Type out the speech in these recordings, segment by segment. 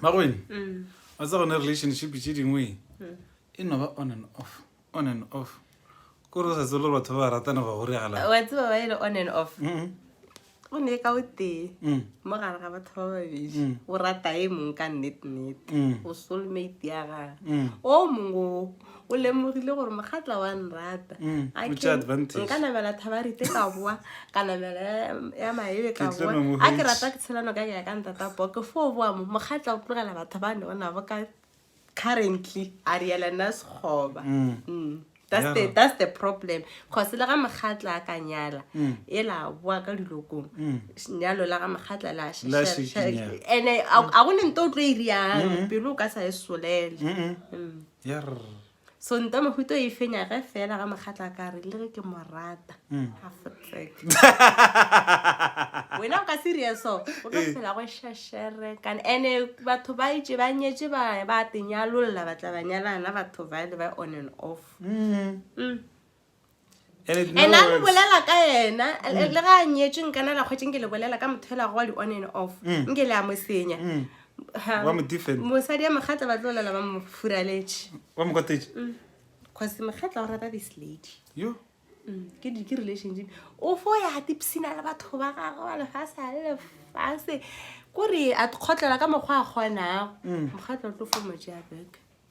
magwene wa tsa gone relationship tše dingwe e no ba on and off on and off kore o sa tsebole gore batho ba ba ratana ba goregala wa tseba ba ele on and off Mm, go ne ka o tee mm, mo gare ga batho ba babedi Mm. o rata e mong ka nnetennete Mm. o soulmate ya gage Mm. o mongwe o o lemogile gore mogatla wa nrata mm, nka namela thabarite ka boa ka namela ya maebe ka boa a ke rata ke tshelano ka kea ka ntata po ke fo boa mo mogatla o tlogela batho ba ne o nabo ka currently a riela nna sekgoba mm. mm. that's the that's the problem cause le ga mogatla a ka nyala mm. e la boa ka dilokong mm. nyalo la ga mogatla la ene a go ne nto o tlo e riang mm-hmm. pelo o ka sa e solele mm-hmm. mm. so ntamahuto e fenya ge fela ga mokgatla ka re le ge ke mo rata mm. wena o ka serioso o ka eh. phela go shashere kana ande batho ba itse ba nyetse ba ba tenyalolla batla ba nyalana batho ba le ba on and off mm. Mm. and a re bolela ka yena mm. le ga a nyetswe nkana la kgwetseng ke le bolela ka motho elago wa di-on and off mm. nke le a mo senya mm. mosadi ya mogatla ba tlo lela ba mo furaletše cause mogatla o rata this lady ke di ke relationship o fo ya tipsina le batho ba gagwe ba lefase a le lefase kore a kgotlela ka mokgwa a kgonago mogatla o tlo fo mo jea beke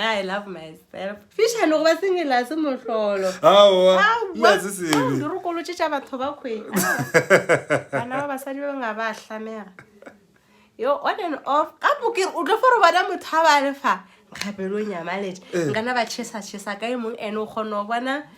I love myself. Fisha no ba singela se mohlolo. Awa. Nna se se. Di re kolotše tša batho ba khwe. Bana ba basadi ba nga ba hlamega. Yo on and off. Ka bokere o tlo foro bona motho ha ba le fa. Nkgapelo nyamaletše. Ngana ba chesa chesa ka e mong ene o kgona go bona.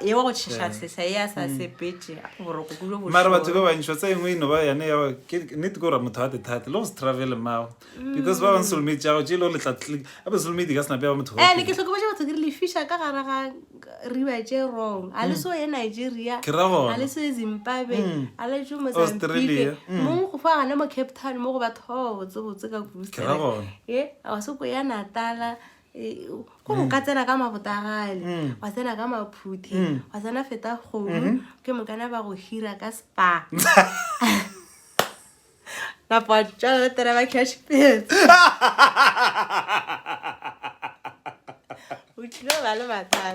ye wa go tšhešatlhesa e a sa mm. sepetše boroko kulo bo mara batho ba bantšhi ba tsa engwe eno ba yane ya nnete ke gore motho a thethate le go se travel mago because ba bang solomate jago je e le go letla click ape solomate ka senapea ba motho eh, ne ke tlhokometše batho ke re lefisha ka gara ga riba tše wrong a le mm. so ye nigeria a le so ye zimbabwe mm. a le jo mozambique mong go fa gane mo cape town mo go batho ba ba botsebotse ka kurusa ye a wa se ko ya natala Eh, ko moka tsena ka mabotagale mm. wa tsena ka maphuthi mm. wa tsena feta kgodu mm-hmm. ke mokana ba go hira ka spa napoatsalaletera ba cash pits o tlile ba le mathata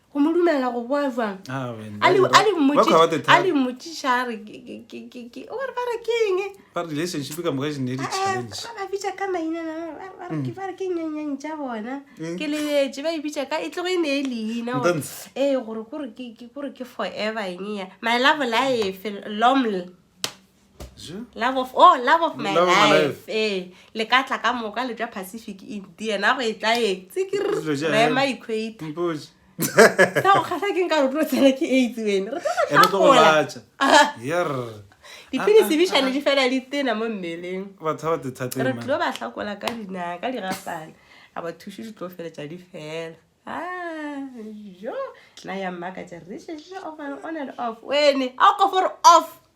go mo dumela go boa jwang Ah, man, a le Daddy, a le ba- ba kgwaba the mmotšiša- a time. le mmotšiša a re ke- ke- ke- ke- ke- o re ba re ke eng Ba relationship ka moka e ne e le challenge ba ba bitša ka maina na- na- ba- ba re ke- ba re ke nyenyeng tša bona Mm. ke lebetše ba e bitša ka e tlogo e ne e leina gore- Ntantshe. ee gore kore ke ke- kore ke forever eng ya my love life loml love of oh love of my love life eh le ka tla ka moka le tšwa pacific india na go e tla e tsikirema equator ka go kgahla ke nka rotlo tsena ke aids wene re tlagolatša dipilisi bišane di fela di tena mo mmeleng re tlo ba hlakola ka dinaka di gapana a ba thuše di tlo feletša di fela jo na ya mmaka tša re on and off wene a o ka fore off